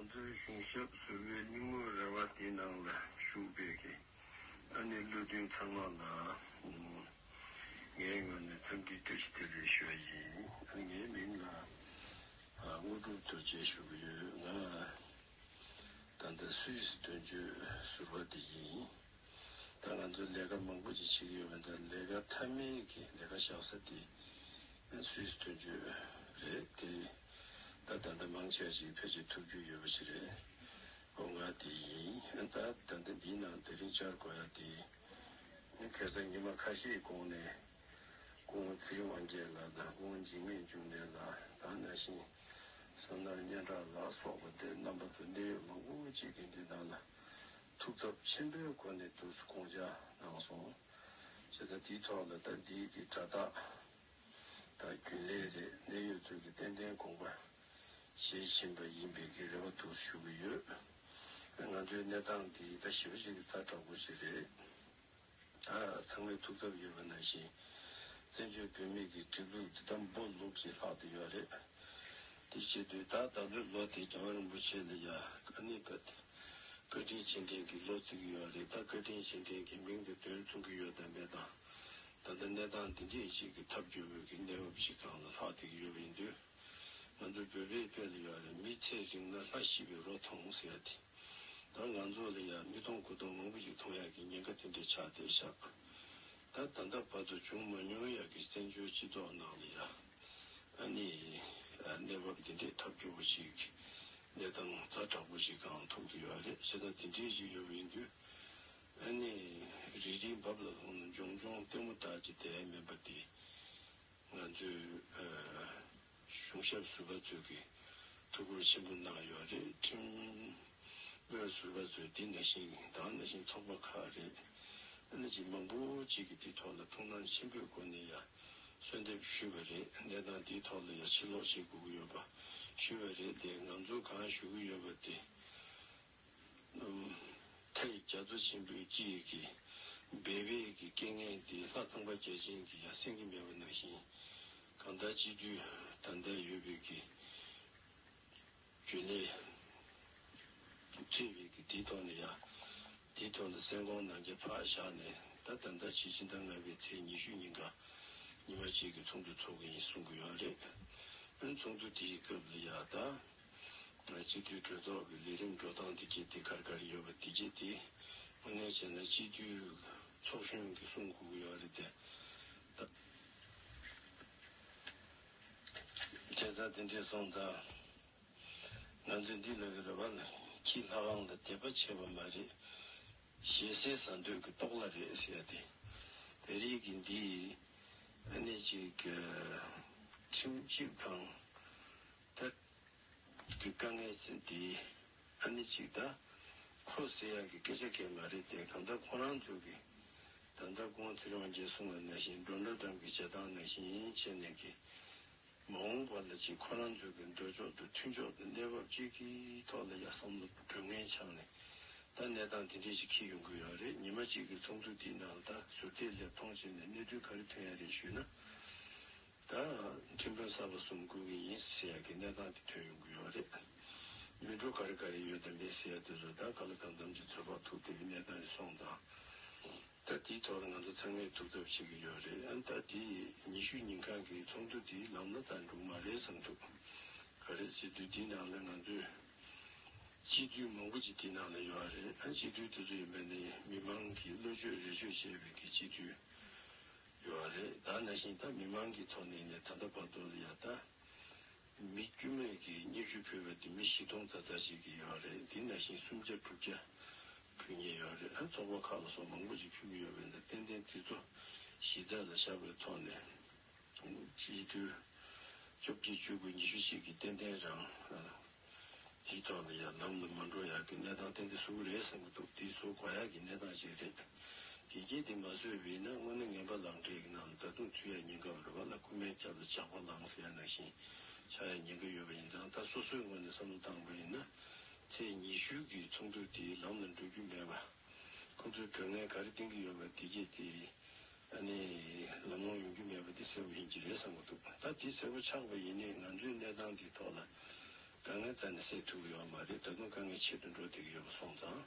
ང་ཚོའི་གཞུང་ཞབས་ཟུར་བུའི་སྙིང་བོ་རེ་བ་དེའི་ནང་ལ་ཞུགས་པའི་གི་ཨ་ནེ་བློ་མཐུན་ཚང་མ་ལ་ངའི་ངོས་ནས་འཚམས་འདྲིའི་བཀྲ་ཤིས་བདེ་ལེགས་ཞུ་བ་ཡིན། ངའི་མིང་ལ་དངོས་གྲུབ་དོལ་རྒྱལ་ཞུ་གི་ཡོད། ང་ད་ལྟ་སུད་སི་དོན་གཅོད་ཟུར་བ་དེ་ཡིན། ད་ང་ཚོས་ལས་ཀ་མང་པོ་ཅིག་བྱེད་ཀྱི་ཡོད་པ་འདིར་ལས་ཀ་མཐའ་མའི་གི་ལས་ཀ་བཞག་ས་དེ་སུས་སྟོན་རྒྱུ་རེད་དེ། ད་ད་ལྟ་མང་ཆེ་བ་ཞིག་ཕལ་ཆེར་ཐུབ་རྒྱུ་ཡོད་པ་ཞིག་རེད། སྒོ་ང་དེ་ཡིན། ད་ད་ལྟ་འདིའི་ནང་དེ་རིང་བཅར་དགོས་ཡ་དེ། གེ་སར་ཉི་མ་ཁ་ཤས་གོང་ནས་སྐུ་ངོ་ཚེ་རིང་དབང་རྒྱལ་ལགས་དང་སྐུ་ངོ་འཇིགས་མེད་འབྱུང་གནས་ལགས་དང་ན་ཤིང་བསོད་ནམས་སྙན་གྲགས་ལགས་སོགས་པ་འདིར་རྣམ་པ་ཚོ་གནད་ཡོད་མང་པོ་ཅིག་གིས་འདི་དག་ལ་ཐུགས་ཚབ་ཆེན་པོའི་སྒོ་ནས་བསྡུར་གསུ་དགོངས་འཇགས་གནང་སོང། བྱས་ཙང་དེའི་ཐོག་ལ་ད་འདིའི་གི་སྒྲ་རྟགས་དང་རྒྱུན་ལས་རེད་གནས་ཡོད་ཚོད་ཀྱི་ཏན་ཏན་དགོངས་པ་བཞེས་བཞིན་པ་ཡིན་པའི་གི་རེ་བ་འདུག་གསུ་ཞུ་གི་ཡོད། ང་ཚོའི་གནས་སྟངས་འདི་ད་ཞི་བ་ཞིག་གི་རྩ་དྲག་པོ་ཞིག་རེད། ཚང་མའི་ཐུགས་འཚབ་ཡོད་པ་ནང་བཞིན། བཙན་བྱོལ་བོད་མིག་གི་གྲིབ་ལུགས་འདི་དམ་པོ་ལུག་གི་ལྷག་ཏུ་ཡོད་རེད། དེ་བྱེད་དུས་ད་ལྟ་ལོའི་ལོ་དེ་རྒྱལ་བ་རིན་པོ་ཆེ་ལ་ཡ་ཀ་ནི་ཀ་ཏི། བཀའ་དྲིན་ཆེ་འབྲིང་གི་ལོ་བརྩི་གི་ཡོད་རེད་ད་བཀའ་དྲིན་ཆེ་འབྲིང་གི་མིང་དུ་དོན་མཚུངས་གི་ཡོད་དམ་མེད་དང། ད་ལྟ་གནས་སྟངས་འདི་འདྲས་ཤིག་གི་ཐབས་སྐྱོ་བོས་གི་གནས་བབ་ཞིག་གང་ལ་ལྷག་ཏི་གི་ཡོད་པ་ཡིན་དུས། ང་ཚོ་བོད་པའི་དཔེ་ལ་ཡོད་རེད་མི་ཚེ་རིང་ན་ལྷ་ཤི་བའི་རོ་ཐོང་ཟེར་ཡ་དེ། ད་ང་ཚོ་ལ་ཡང་མི་སྟོང་དགུ་སྟོང་མང་པོ་ཞིག་མཐོང་ཡག་གི་ཉེན་ཁ་དེ་འདྲས་ཆགས་བསྡད་ཤག་ད་ད་ལྟ་བར་དུ་བྱུང་མ་མྱོང་ཡག་གི་བཙན་བྱོལ་སྤྱི་ཏོག་ནང་ལ་ཡང་ཨ་ནི་གནས་བབ་འདི་འདྲས་ཐབས་སྐྱོ་པོ་ཞིག་གནས་སྟངས་རྫ་དྲག་པོ་ཞིག་གང་ཐུག་ཏུ་ཡོད་རེད་བྱས་ན་འདི་འདྲས་ཞིག་ཡོད་མི་འདུག་ཨ་ནི་རིལ་རིལ་འབབ་ལ་ལྷུང་ན་འབྱོང་འབྱོང་ལྟད་མོ་དག་ཅིག་བསྡད་མིན་པ་འདི་ང་ཚོས། གཞུང་ཞབས་ཟུར་པ་ཚོས་ཀྱིས་ཐུགས་ཁུར་ཆེན་པོ་གནང་ཡོད་རེད་ཁྲིམས་དཔོན་ཟུར་པ་ཚོས་འདི་ན་ཞིང་དང་ན་ཞིང་ཚོགས་པ་ཁག་རེད་ཨ་ན་ཅི་མང་པོ་ཅིག་གིས་འདི་ཐོག་ལ་ཐུགས་སྣང་ཆེན་པོས་སྒོ་ནས་ཡ་གསོལ་འདེབས་ཞུས་པ་རེད་གནས་སྟངས་འདི་ཐོག་ལ་ཡ་ཕྱིར་ལོག་བྱེད་དགོས་ཀྱི་ཡོད་པ་ཞུས་པ་རེད་དེ་ང་ཚོ་གང་ཞུ་གི་ཡོད་པ་དེ་མཐའི་རྒྱ་མཚོ་ཆེན་པོའི་དཀྱིལ་གྱི་སྦས་པའི་གི་སྐད་ངན་འདི་ལྷ་ཚངས་པ་བརྒྱ་བྱིན་གྱི་ཡང་སེང་གེ་མེད་པ་ནང་བཞིན་གང་དག་སྤྱི་རྡུལ་ད་ལྟ་ཡོད་པའི་གི་རྒྱུ་ལས་སྤྲས་པའི་གི་དེའི་ཐོག་ནས་ཡང་དེའི་ཐོག་ནས་སེང་གོང་ནང་རྒྱ་ཕག་བཞག་ནས་ད་ལྟ་ཟླ་ཕྱེད་ཕྱི་ཟླ་ལྔ་པའི་ཚེས་ཉི་ཤུ་ཉིན་ག་ཉི་མ་གཅིག་གི་ཚོགས་འདུ་འཚོགས་གི་ཡིན་གསུང་གི་ཡོད་རེད། འོན་ཚོགས་འདུ་དེའི་སྐབས་ལ་ཡང་ད། སྤྱི་འཐུས་གྲོས་ཚོགས་ཀྱི་ལས་རིམ་འགྲོ་སྟངས་དེ་གྱེས་དེ་གར་གར་ཡོད་པ་དེ་གྱེས་དེ་དངོས་གནས་བྱས་ན་སྤྱི་འཐུས་ཚོགས་གཞོན་གྱི་གསུང་གོ་གི་ཡོད་རེད་དེ། བྱས་ཙང་དེ་འདྲས་སོང་ཙང་ང་ཚོས་འདི་ལ་གི་རེ་བ་ལ་ཁྱི་ལྷ་ཁང་ལ་དད་པ་ཆེ་བ་མ་རེད། ཞེ་སའི་ཟ་འདོད་ཀྱི་ཏོག་ལ་རེད་ཟེར་ཡ་དེ། དེ་རིགས་ཀྱི་འདི་ཨ་ནི་ཅིག་ཁྲིམས་ཞིབ་ཁང། ཐད་ཀྱི་དཀའ་ངལ་ཚེ་འདིའི་ཨ་ནེ་གཅིག་ད་ཁོ་ཟེར་ཡག་གི་སྐད་ཆ་འགས་མ་རེད་དེ་གང་ལྟར་ཁོ་རང་ཚོ་གི་ད་ལྟ་ཀོང་ཙེ་རོང་རྒྱལ་སྲུང་བ་ནང་བཞིན་སྒྲོ་འདྲ་འགྲམ་གྱི་བྱེད་སྟངས་ནང་བཞིན་བྱེད་ནས་ཀྱི་མ་འོངས་པ་ལ་ཅིག་ཁོ་རང་ཚོ་གི་འདོད་ཕྱོགས་དང་མཐུན་ཕྱོགས་དང་གནས་བབ་ཅིག་གི་ཐོག་ལ་ཡ་བསམ་བློ་དང་དྲོད་ངན་འཆང་ནས་ད་གནས་སྟངས་དེ་འདྲས་ཅིག་ཁེལ་ཡོང་གི་ཡོད་རེད་ཉི་མ་གཅིག་གི་ཚོགས་འདུ་འདིའི་ནང་ལ་ད་ཟུར་བལྟས་ལེབ་མཐོང་བྱས་ནས་གནས་ཚུལ་ག་རེ་ཐོན་ཡ་རེད་ཞུས་ན། ད་ཡང་ཁྲིམས་དཔོན་གསར་པ་གསུམ་བསྐོས་ཀྱི་ཡིན་ཟེར་ཡག་གི་གནས་སྟངས་དེ་ཐོན་ཡོང་གི་ཡོད་རེད། མི་འགྲོ་ག་རེ་ག་རེ་ཡོད་དམ་མེད་ཟེར་ཡག་དུས་ཚོད་ད་ག་ལ་གང་འདམ་གྱི་ཚོད་དཔག་ཐུབ་ཐུབ་ཀྱི་གནས་སྟངས་རེད་སོང་ཙང། ད་དེའི་ཐོག་ལ་ང་ཚོ་ཚང་མས་ཐུགས་འཚབ་བྱེད་ཀྱི་ཡོད་རེད་ཨང་ད་དེ་ཉི་ཤུ་ཉིན་གང་གི་ཚོགས་འདུ་དེ་ལམ་ལ་བཏང་འགྲོ་གི་མ་རེད་བསམ་ཐུབ། ག་རེ་སྤྱི་འཐུས་དེའི་ནང་ལ་ང་ཚོས། སྤྱི་འཐུས་མང་པོ་ཅིག་དེའི་ནང་ལ་ཡོད་རེད་ཨང་སྤྱི་འཐུས་དེ་ཚོ་ཡིན་པ་ནི་མི་མང་གིས་བློ་ཆོས་རེ་ཆོས་བྱས་པའི་གི་སྤྱི་འཐུས། ཡོད་བ་རེད་ད་ན་ཤིང་རྟ་མི་མང་གི་ཐོག་ནས་ནས་ད་ལྟ་བར་དུ་ཡ་ད། མི་དཀྱུས་མས་ཀྱི་སྙིགས་རུས་ཕུལ་བ་དེ་མི་བཞི་སྟོང་རྩ་རྩ་ཞིག་གི་ཡོད་བ་རེད་དེ་ན་ཤིང་སུམ་བརྒྱ་དྲུག་བརྒྱ་ཕུལ་ཉེ་ཡོད་བ་རེད་ཨ་ཚོགས་པ་ཁག་ལ་སོགས་མང་པོ་ཞིག་ཕུལ་གྱི་ཡོད་བས་ན་ཏན་ཏན་དེ་ཚོ་གཞི་རྩ་ལ་བཞག་པའི་ཐོག་ནས། སྤྱི་འཐུས་བཅོ་བརྒྱད་བཅུ་དགུ་ཉི་ཤུ་གཅིག་གིས་ཏན་ཏན་རང། གཅིག་ཐོག་ནས་ཡང་ནམ་དུ་མ་འགྲོ་ཡག་གི་གནས་སྟངས་གཏན་དུ་བཟོ་གི་རེད་བསམ་གི་འདུག་འདི་བཟོ་དགོ་ཡག་གི་གནས་སྟངས་ཤིག་རེད། དགེ་རྒྱས་འདི་མ་བཟོས་བས་ན་སྔོན་ན་ངན་པ་ལང་འདྲེ་ཡི་ནང་ལ་ད་དུང་ཚུད་ཡག་ཉེན་ཁ་ཡོད་པ་ལ་རྐུན་མའི་རྒྱབ་ལ་ཇག་པ་ལང་ཟེར་ཡག་ནང་བཞིན་ཆགས་ཡག་ཉེན་ཁ་ཡོད་པ་ཡིན་ཙང་ད་སོ་སོའི་ངོས་ནས་བསམ་བློ་བཏང་དགོས་ཡིན་ན། ཚེས་ཉི་ཤུ་གི་ཚོགས་འདུ་དེའི་ལམ་ལ་འགྲོ་རྒྱུ་མེད་པ། ཁོང་ཚོའི་གྲོས་ངན་ག་རེ་གཏིང་གི་ཡོད་པ་འདི་རྒྱས་འདི། ད་ནི་ལམ་ལྷོང་ཡོང་རྒྱུ་མེད་པ་འདི་གསལ་པོ་ཡིན་གྱི་རེད་བསམ་གྱི་འདུག་ད་དེ་གསལ་པོ་ཆགས་པ་ཡིན་ནས་ང་ཚོའི་གནས་སྟངས་འདིའི་ཐོག་ལ་དཀའ་ངལ་རྩ་ནས་སེལ་ཐུབ་ཀྱི་ཡོད་པ་མ་རེད་ད་དུང་དཀའ་ངལ་ཆེ་དུ་འགྲོ་བསྡད་ཀྱི་ཡོད་པ་སོང་ཙང་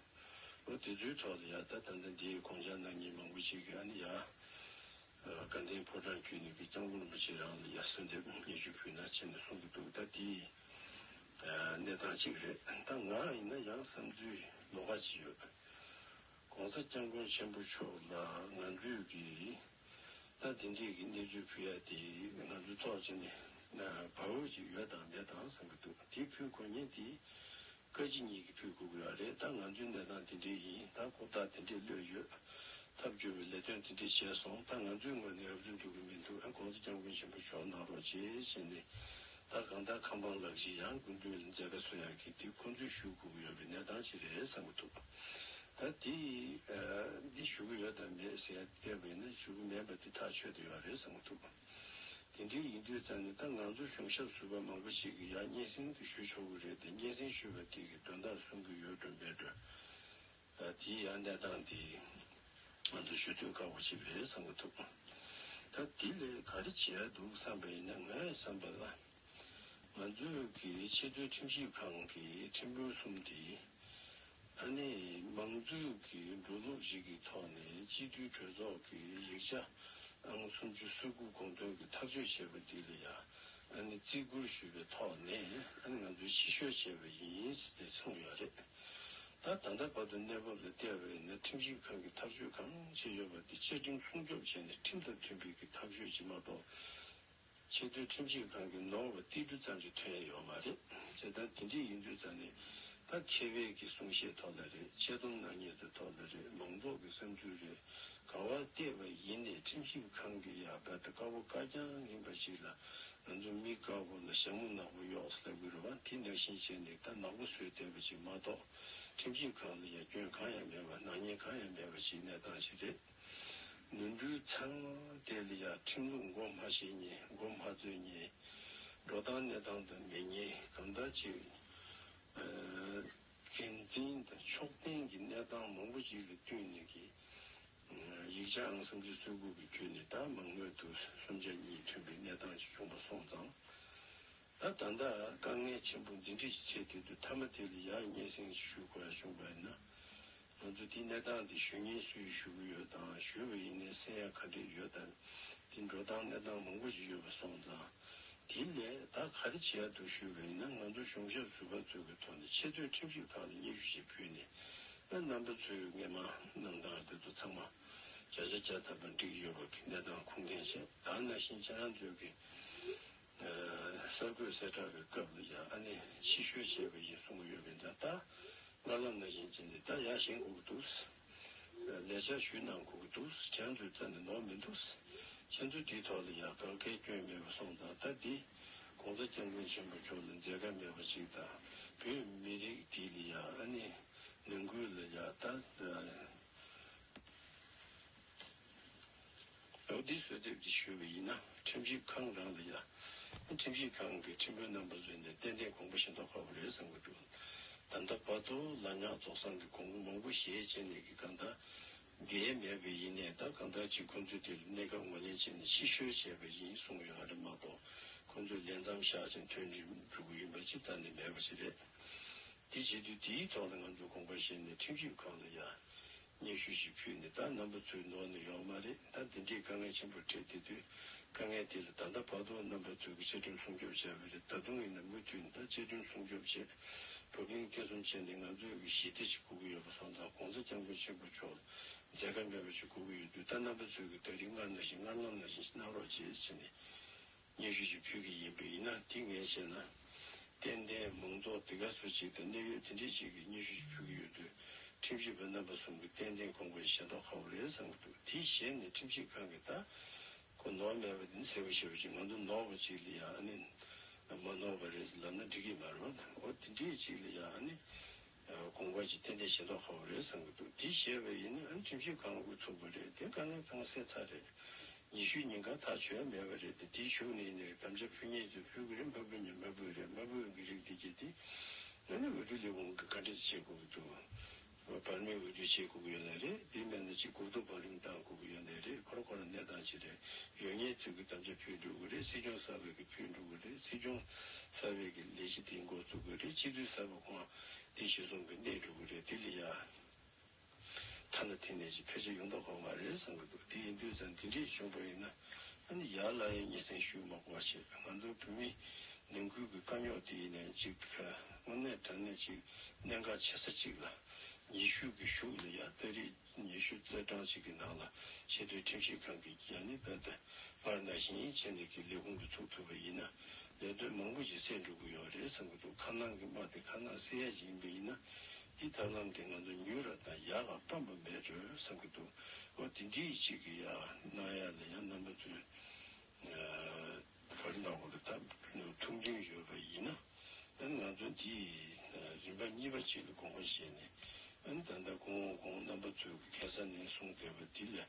ལོ་དེ་ཚོའི་ཐོག་ལ་ཡ་ད་ད་ལྟ་འདིའི་དགོངས་འཆར་ནང་མྱི་མང་པོ་ཅིག་གིས་ཨ་ནི་ཡ། དགའ་ལྡན་ཕོ་བྲང་རྒྱུད་ནས་ཀྱི་སྐྱབས་མགོན་རིན་པོ་ཆེ་རང་ལ་ཡ་གསོལ་འདེབས་སྙན་ཞུ་ཕུལ་ན་བྱས་ནས་གསུང་གི་འདུག་ད་འདི་གནས་སྟངས་གཅིག་རེད་ད་ང་ཡིན་ན་ཡང་བསམ་ཚུལ་ལོག་ཀ་ཅིག་ཡོད། ྋགོང་ས ྋསྐྱབས་མགོན་ཆེན་པོ་མཆོག་ལ་ང་ཚོས་ཀྱིས་ད་འདི་འདྲས་ཀྱི་གནས་ཚུལ་ཕུལ་ཡ་དེ་ང་ཚོའི་ཐོག་ཅི་ནས་བབ་འོས་ཅིག་ཡོད་དང་མེད་དང་བསམ་གྱི་འདུག་དེ་ཕུལ་དགོས་ཉེན་དེ་བཀའ་སྤྱི་གཉིས་ཀྱིས་ཕུལ་དགོས་ཀྱི་ཡོད་རེད་ད་ང་ཚོའི་གནས་སྟངས་འདི་འདྲས་ཡིན་ད་ལྐོག་རྟགས་འདི་འདྲས་གློད་ཡོད་ཐབས་སྐྱོ་བའི་ལས་དོན་འདི་འདྲས་བྱས་སོང་ད་ང་ཚོའི་ངོས་ནས་འོས་བསྡུ་འགྲོ་གི་མི་འདུག ྋགོང་ས ྋསྐྱབས་མགོན་ཆེན་པོ་མཆོག་གནང་རོགས་བྱས་བྱས་ནས་ད་གང་ལྟར་ཁམས་པ་ལགས་ཀྱིས་ཡང་དགོས་འདུན་མཛད་ཀ་སོ་ཡང་གིས་འདི་ཁོང་ཚོས་ཞུ་དགོས་ཀྱི་ཡོད་པའི་གནས་སྟངས་ཅི་རེད་བསམ་གྱི་འདུག། ད་དེས་འདི་ཞུ་གི་ཡོད་དམ་མེད་ཟེར་བལྟས་པས་ན་ཞུ་གི་མེད་པ་འདི་ཐག་ཆོད་དུ་ཡོད་རེད་བསམ་གྱི་འདུག་དེ་འདྲའི་ཡིན་དུས་ཙང་ནས་ད་ང་ཚོ་གཞུང་ཞབས་ཟུར་པ་མང་པོ་ཞིག་གིས་ཡང་སྙན་སེང་དེ་ཞུ་ཆོག་གི་རེད་དེ་སྙན་སེང་ཞུས་པ་དེ་གིས་དོན་དག་གསུང་གི་ཡོད་འགྲོ་མེད་འགྲོ། དེའི་ཡང་གནས་སྟངས་དེ་ང་ཚོ་ཞུ་འདོད་དཀའ་བོ་ཞིག་རེད་བསམ་གྱི་འདུག་ད་དེ་ལས་ག་རེ་བྱེད་ཡག་འདུག་བསམ་པ་ཡིན་ན་ངས་བསམ་པ་ལ། ང་ཚོས་ཀྱི་ཆེས་མཐོའི་ཁྲིམས་ཞིབ་ཁང་གི་ཁྲིམས་དཔོན་གསུམ་དེ། ཨ་ནེ། མང་གཙོའི་གི་འགྲོ་ལུགས་ཤིག་གི་ཐོག་ནས་སྤྱི་འཐུས་གྲོས་ཚོགས་ཀྱི་ཡིག་ཆ་ཨང་སུམ་ཅུ་སོ་དགུ་དགོངས་དོན་གྱི་ཐག་གཅོད་བྱས་པ་འདི་ལ་ཡང་ཨ་ནེ་བརྩི་བཀུར་ཞུས་པའི་ཐོག་ནས་ཨ་ནེ་ང་ཚོས་ཕྱི་བཤོལ་བྱས་པ་ཡིན་ཏེ་མཚུངས་ཡོད་རེད། ད་ད་ལྟ་བར་དུ་གནས་བབ་ལ་བལྟས་པ་ཡིན་ན་ཁྲིམས་ཞིབ་ཁང་གིས་ཐག་གཅོད་གང་བྱས་ཡོད་པ་དེ་བཅའ་ཁྲིམས་སྲུང་སྐྱོབ་བྱས་ནས་ཁྲིམས་དང་མཐུན་པའི་གི་ཐག་གཅོད་བྱེད་མ་གཏོགས། ཆེ་བསྟོད་ཁྲིམས་ཆད་གང་གི་ནོར་བ་ཏིལ་འབྲུ་ཙམ་གྱི་དོན་ཡོད་མ་རེད་ཅེས་ད་དེ་འདྲས་ཡིན་དུས་ཙང་ནས་ད་ཁྱེད་བལ་གྱི་གསུང་བཤད་ཐོག་ལ་རེད་འཆལ་གཏམ་ནག་ཉེས་དེ་ཐོག་ལ་རེད་མང་ཚོགས་ཀྱི་བསམ་ཚུལ་རེད་ག་བ་བལྟས་པ་ཡིན་ནས་ཁྲིམས་ཞིབ་ཁང་གི་ཡ་བལ་ད་དཀར་བོ་དཀར་རྐྱང་ཡིན་པ་ཞིག་ལ་ང་ཚོ་མི་དཀར་བོ་ལ་ཞྭ་མོ་ནག་པོ་གཡོག་ས་དགོས་རེད་བ་དེ་ནག་བཞིན་བྱས་ནས་ད་ནག་པོ་བཟོས་བསྡད་པ་ཞིག་མ་གཏོགས་ཁྲིམས་ཞིབ་ཁང་ལ་ཡ་སྐྱོན་གང་ཡང་མེད་བ་ནག་ཉེས་གང་ཡང་མེད་བ་ཞིག་གནས་སྟངས་ཞིག་རེད། ནོར་འཁྲུལ་ཚང། དེ་ལ་ཡང་ཁྲིམས་ལུགས་མགོ་སྨྲ་བྱེད་ཉེས་མགོ་སྨྲ་རྩོད་ཉེས། འགྲོ་སྟངས་གནས་སྟངས་དུ་མེད་ཉེས་གང་དག་ཅིག། འགན་འཛིན་དང་ཕྱོགས་འཐེན་གྱི་གནས་སྟངས་མང་པོ་ཅིག་ལ་བསྟུན་ནས་ཀྱི། ཡིག་ཆ་ཨང་གསུམ་ཅུ་སོ་དགུ་གི་བརྒྱུད་ནས་ད་མང་མོས་དུ་སུམ་ཆ་གཉིས་ཐོན་པའི་གནས་སྟངས་ཅིག་བྱུང་བ་སོང་ཙང། ད་ད་ལྟ་དཀའ་ངལ་ཆེན་པོ་འདི་འདྲ་ཞིག་ཆེ་དུས་དུ་མཐའ་མ་དེ་ལ་ཡག་ཉེས་སེང་ཞུ་དགོས་ཡག་ཞུ་དགོས་ན། ང་ཚོ་དེའི་གནས་སྟངས་དེ་ཞུ་ཉེན་སུ་ཡིས་ཞུ་གི་ཡོད་དང་ཞུས་པ་ཡིན་ནའི་སེམས་ཡ་ཁ་སྒྲིག་ཡོད་དམ། དེ་འགྲོ་སྟངས་གནས་སྟངས་མང་པོ་ཞིག་ཡོད་པ་སོང་ཙང། དེའི་ལས་ད་ག་རེ་བྱེད་ཡ་འདུག་ཞུས་པ་ཡིན་ན་ང་ཚོ་གཞུང་ཞབས་ཟུར་པ་ཚོས་ཀྱི་ཐོག་ནས་ཆེ་བསྟོད་ཁྲིམས་ཞིབ་ཁང་ལ་སྙན་ཞུ་ཞིག་ཕུལ་ནས་ཨ་རྣམ་པ་ཚོས་སྔས་མ་གནང་སྟངས་དེ་ཚོ་ཚང་མ་བརྒྱ་ཆ་བརྒྱ་ཐམ་པ་འགྲིག་ཡོད་པ་གི་གནས་སྟངས་ཁུངས་སྐྱེལ་ཆེད་ད་ན་བཞིན་ཁྱེད་རང་ཚོས་ཀྱི་གསར་འགོད་གསལ་བསྒྲགས་པའི་སྐབས་ལ་ཡང་ཨ་ནེ་ཕྱི་བཤོལ་བྱས་པ་ཡིན་གསུངས་ཡོད་པས་འདྲ་ལྟ། ལྔ་ལམ་ན་ཡིན་ཅེས་ནི་ད་ཡག་བཞེངས་དགོས་ཀྱི་འདུག། ལས་འཆར་ཞུས་གནང་དགོས་ཀྱི་འདུག་ཁྱེད་ཚོའི་རྩ་ནས་ནོར་མི་འདུག། ཁྱེད་ཚོ་འདིའི་ཐོག་ལ་ཡང་དགག་དགལ་སྐྱོན་མེད་པ་སོང་ཙང་ད་འདི ྋགོང་ས ྋསྐྱབས་མགོན་ཆེན་པོ་མཆོག་ལ་མཛད་དཀའ་མེད་པ་ཅིག་དང་བོད་མི་རིགས་འདི་ལ་ཡང་ཨ་ནེ་ནང་ཁུལ་ལ་ཡག་ལྟ། ལོ་འདིའི་གསོལ་འདེབས་ཀྱི་ཞུ་བ་ཡིན་ན་ཁྲིམས་ཞིབ་ཁང་རང་ལ་ཡོད། ཁྲིམས་ཞིབ་ཁང་གི་ཁྲིམས་དཔོན་རྣམ་པ་བཟོས་ནས་ཏན་ཏན་གོང་བུ་བཞིན་འདོར་དཀའ་བོ་རེད་བསམ་གྱི་འདུག་ད་ལྟ་བར་དུ་ལ་ཉག་རྫོགས་སངས་ཀྱི་གོང་བུ་མང་པོ་ཞལ་ཕྱེས་ནས་ཀྱི་གང་དག་འགལ་མེད་པའི་ཡིན་ནས་ད་གང་དག་ཅིག་ཁོང་ཚོས་དེ་ལ་གནད་འགག་ངོས་ལེན་བྱས་ནས་ཕྱི་བཤོལ་བྱས་པ་ཡིན་གསུངས་ཡོད་ཨ་རེ་མ་གཏོགས་ཁོང་ཚོས་ལས་མཚམས་བཞག་ཅིང་ཐོན་འགྲིམ་འགྲུལ་གྱི་ཡིན་པ་ཅི་ལྟར་ནས་མེད་པ་ཅི་རེད། དེ་བྱེད་དུས་དེའི་ཐོག་ལ་ང་ཚོས་དགོངས་པ་བཞེས་ནས་ཁྲིམས་ཞིབ་ཁང་ལ་ཡ། སྙན་ཞུ་ཞིག་ཕུལ་ནས་ད་ནམ་པ་ཚོའི་ནོར་ནས་ཡོང་མ་རེད་ད་འདི་འདྲའི་དཀའ་ངལ་ཆེན་པོ་འཕྲད་དེ་དུས་དཀའ་ངལ་དེ་ལ་ད་ལྟ་བར་དུ་ནམ་པ་ཚོས་ཀྱི་བཅའ་ཁྲིམས་སྲུང་སྐྱོབ་བྱས་པ་རེད་ད་དུང་ཡིན་ན་མུ་མཐུད་ནས་ད་བཅའ་ཁྲིམས་སྲུང་སྐྱོབ་བྱེད་བབ་གླིང་སྐྱེལ་གསུམ་བྱས་ནས་ང་ཚོས་ཀྱི་ཞི་བདེ་ཞིག་དགོས་ཀྱི་ཡོད་པ་སོང་ཙང་གོང་ས་སྐྱབས་མགོན་ཆེན་པོ་མཆོག་ལ་མཛད་དཀའ་མེད་པ་ཞིག་དགོས་ཀྱི་ཡོད་དུས་ད་ནམ་པ་ཚོས་ཀྱི་ད་རིགས་སྔར་ན་བཞིན་སྔར་ལམ་ན་བཞིན་གནང་རོགས་བྱེད་ཅེས་ནས་སྙན་ཞུ་ཞིག་ཕུལ་གྱི་ཡིན་པས་ཡིན་ན་དེ་ངས་བྱས་ན། ཏན་ཏན་མང་ཚོགས་དེ་ག་སུ་གཅིག་དང་གནད་ཡོད་དེ་འདྲས་གཅིག་གིས་སྙན་ཞུ་ཞིག་ཕུལ་གྱི་ཡོད་དུས་ཁྲིམས་ཞིབ་པ་རྣམ་པ་གསུམ་གྱིས་ཏན་ཏན་ཁོང་པའི་ཞེ་མདོག་ཁ་བོ་རེད་བསམ་གྱི་འདུག་དེའི་ཞལ་ནས་ཁྲིམས་ཞིབ་ཁང་གིས་ད་ཁོ་ནོར་མེད་པ་དེ་འདྲ་ཟེར་བ་ཞེས་པ་ཅིག་ང་དོ་ནོར་བ་ཅིག་ལ་ཡང་ཨ་ནི། མ་ནོར་བ་རེད་ཟེར་ལབ་ན་འགྲིག་གི་མ་རེད་བ་ད་འོ་དེ་འདྲས་ཅིག་ལ་ཡང་ཨ་ནི། དགོངས་པ་ཅི་བསྟན་དེ་ཤེས་མདོག་ཧ་བོ་རེད་བསམ་གྱི་འདུག་འདི་བཤད་པའི་ཡིན་ན་ཨ་ཁྲིམས་ཤིག་གང་དགོས་འཚུགས་པ་རེད་དེ་དཀའ་ངལ་གཏང་གསལ་ཚར་རེད། ཉི་ཤུའི་ཉིན་གང་ཐག་ཆོད་མེད་པ་རེད་དེ་དེའི་ཞུགས་ནས་ཡིན་ནའི་དམ་བཅའ་ཕུལ་ཉེས་དེ་ཕུལ་གི་རེད་མ་ཕུལ་ཉེས་མ་ཕུལ་རེད་མ་ཕུལ་གི་རིགས་དེ་གྱིས་དེ་སྔོན་ནས་འོས་བསྡུ་ལས་ཁུངས་ཀྱི་བཀའ་འདྲི་བྱེད་དགོས་ཀྱི་འདུག་བར་མའི་འོས་བསྡུ་བྱེད་དགོས་ཀྱི་ཡོད་ནའི་རེད་དེ་མེད་ན་ཅི་དགོས་གཏུག་བང་རིམ་བཏང་དགོས་ཀྱི་ཡོད་ནའི་རེད་ཁོ་ར་ཁོ་ར་གནས་སྟངས་ཅི་རེད་ཡོད་ཉེས་དུས་ཀྱི་དམ་བཅའ་ཕུལ་འགྲོ་གི་རེད་སྲིད་སྐྱོང་གསར་བས་ཀྱི་ཕུལ་འགྲོ་གི་རེད་སྲིད་སྐྱོང་གསར་བས་ཀྱི་ལས་གཞི་དེ་འགོ་བཙུགས་གི་རེད་སྤྱི་འཐུས་གསར་བ། ཨོ། དེ་ཞེ་གསུམ་གྱི་གནས་གྲུབ་ཀྱི་རེད་དེ་ལས་ཡ། ཐ་ན་དེ་ནས་ཅིག་ཕལ་ཆེར་ཡོང་དོགས་ཁོ་མ་རེད་བསམ་གྱི་འདུག་དེ་ཡིན་དུས་ཙང་འདི་འདྲའི་བྱུང་བ་ཡིན་ན་ཨ་ནི་ཡར་ལ་ཡང་སྙན་སེང་ཞུས་མ་གོ་བ་བྱས་ང་ཚོ་བོད་མི་ནང་ཁུལ་གྱི་དཀའ་རྙོག་དེ་ཡིན་ནས་ཅིག་དངོས་གནས་དྲང་གནས་ཅིག་གནད་འགག་ཆེ་ས་ཅིག་ལ་ཉི་ཤུ་གི་གཞུག་ལས་ཡ་ལྟ་རིས། ཉི་ཤུ་རྩ་གྲངས་གཅིག་གི་ནང་ལ་ཆེས་མཐོའི་ཁྲིམས་ཞིབ་ཁང་གི་རྒྱལ་ནི་པད་ད་བར་ན་ཞིང་ཡིག་ཆེན་ལས་ཀྱི་ལས་ཁུངས་སུ་ཚུགས་ཐུབ་པ་ཡིན་ན་ལས་དོན་མང་པོ་ཞིག་སེལ་འགྲོ་གི་ཡོད་རེད་བསམ་གྱི་འདུག་ཁ་ནང་གི་དམག་དེ་ཁ་ནང་སེལ་ཡ་ཞིག་ཡིན་པ་ཡིན་ན་འདིས་ཐབས་ལམ་དེ་ང་ཚོ་མྱུར་ར་དང་ཡག་ལ་སྤམ་པ་མེད་འགྲོས་བསམ་གྱི་འདུག་ཨོ་དེ་འདྲིའི་ཅིག་གི་ཡ་གནང་ཡ་ལ་ཡ་གནང་པ་ཚོའི་བོད་རིགས་ནང་ཁུལ་དུ་ད་ནུབ་ཐུབ་འདུན་ཡོད་པ་ཡིན་ན། ད་ང་ཚོ་འདིས་རིམ་པ་གཉིས་པ་ཅིག་ལ་དགོངས་པ་བཞེས་ནས་ད་ལྟ་ཀུན་འོང་ཁོང་རྣམ་པ་ཚོའི་གི་ཁེ་ས་ནས་གསུངས་བསྡད་པ་འདི་ལས་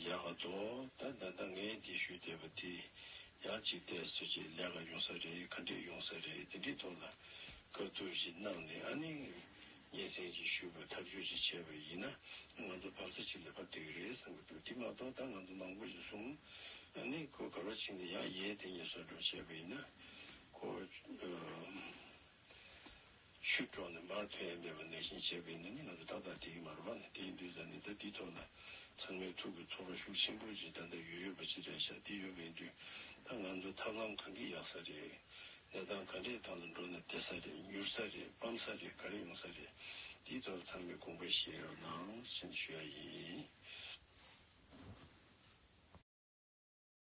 ཡག་ག་དོ། ད་ད་ལྟ་ངས་འདི་ཞུས་བསྡད་པ་འདི་ཡག་ཅིག་བསྡད་ཟེར་ཅིག་ལས་ཀ་ཡོང་ས་རེད་ག་འདྲེ་ཡོང་ས་རེད་འདི་འདྲེ་ཐོག་ལ་དཀའ་སྡུག་ཞིག་གནང་ནས་ཨ་ནི་ཉེ་ཚན་གྱིས་ཞུས་པར་ཐག་གཅོད་ཅིག་བྱས་པ་ཡིན་ན་ང་ཚོ་འབབ་རྩ་ཆེ་ལེ་བར་འདོད་ཀྱི་རེད་བསམ་གྱི་འདུག་དེ་མ་གཏོགས་ད་ང་ཚོ་མང་པོ་ཞིག་གསུམ་ནི་ཁོ་གར་བ་ཕྱིན་ཏེ་ཡང་ཡའི་སྟེང་ཉེ་སོར་འགྲོ་བྱས་པ་ཡིན་ན་ཁོ་ཤུད་དཀྲོག་ནས་མར་ཐོན་ཡས་མེད་པ་ནས་བཞིན་བྱས་པ་ཡིན་ན་ནི་ང་ཚོ་ཏག་ཏག་དེའི་མར་བ་ནས་དེའི་འདུས་ས་ནས་ད་འདི་ཐོག་ན་ཚང་མའི་ཐུགས་ཀྱི་ཚོར་བ་ཤུགས་ཆེན་པོ་ཅིག་ད་ལྟ་ཡོད་ཡོད་པ་ཅི་འདྲ་ཤ་འདི་ཡོད་པ་ཡིན་དུས་ད་ང་ཚོ་ཐབས་ལམ་གང་གིས་ཡག་ས་རེད་ལས་སྟངས་ག་འདྲས་ཐོག་ལ་འགྲོ་ན་བདེ་ས་རེད་མྱུར་ས་རེད་སྤམ་ས་རེད་ག་རེ་ཡོང་ས་རེད་འདིའི་ཐོག་ལ་ཚང་མས་དགོངས་པ་བཞེས་རོགས་གནང་ཞེས་ཞུ་ཡ་ཡིན།